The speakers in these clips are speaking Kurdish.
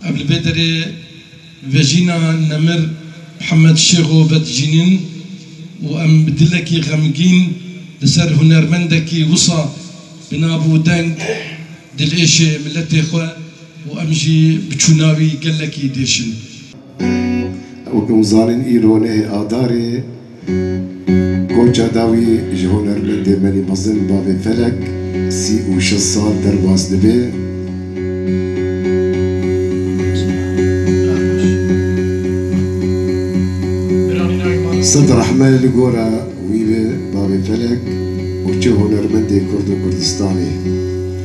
Ev li bê derê vejîna nemir Mihemed Şêxo ve dijînin û em bi dilekî xemgîn li ser hunermendekî wisa bi nav û deng dilêşê miletê xwe û em jî bi çûna wî gelekî diêşin. Wekî hûn zanîn îro nehê adarê. Konca dawî ji hunermendê Melî Mezin bavê Felek sî û şeş sal derbas dibe. Sed rehme li gora wî be bavê Felek û çi hunermendê Kurd û Kurdistanê.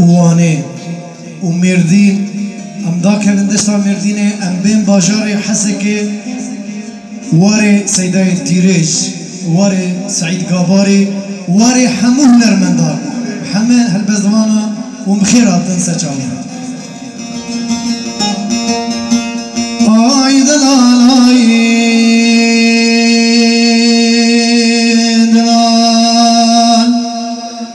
û Wanê û Mêrdîn em dakevin desta Mêrdînê em bên bajarê Hesekê warê Seydayên Tîrêj warê Seîd Gabarî warê hemû hunermendan heme helbestvanan û bi xêr hatin ser çavê me. Ay delalay delal.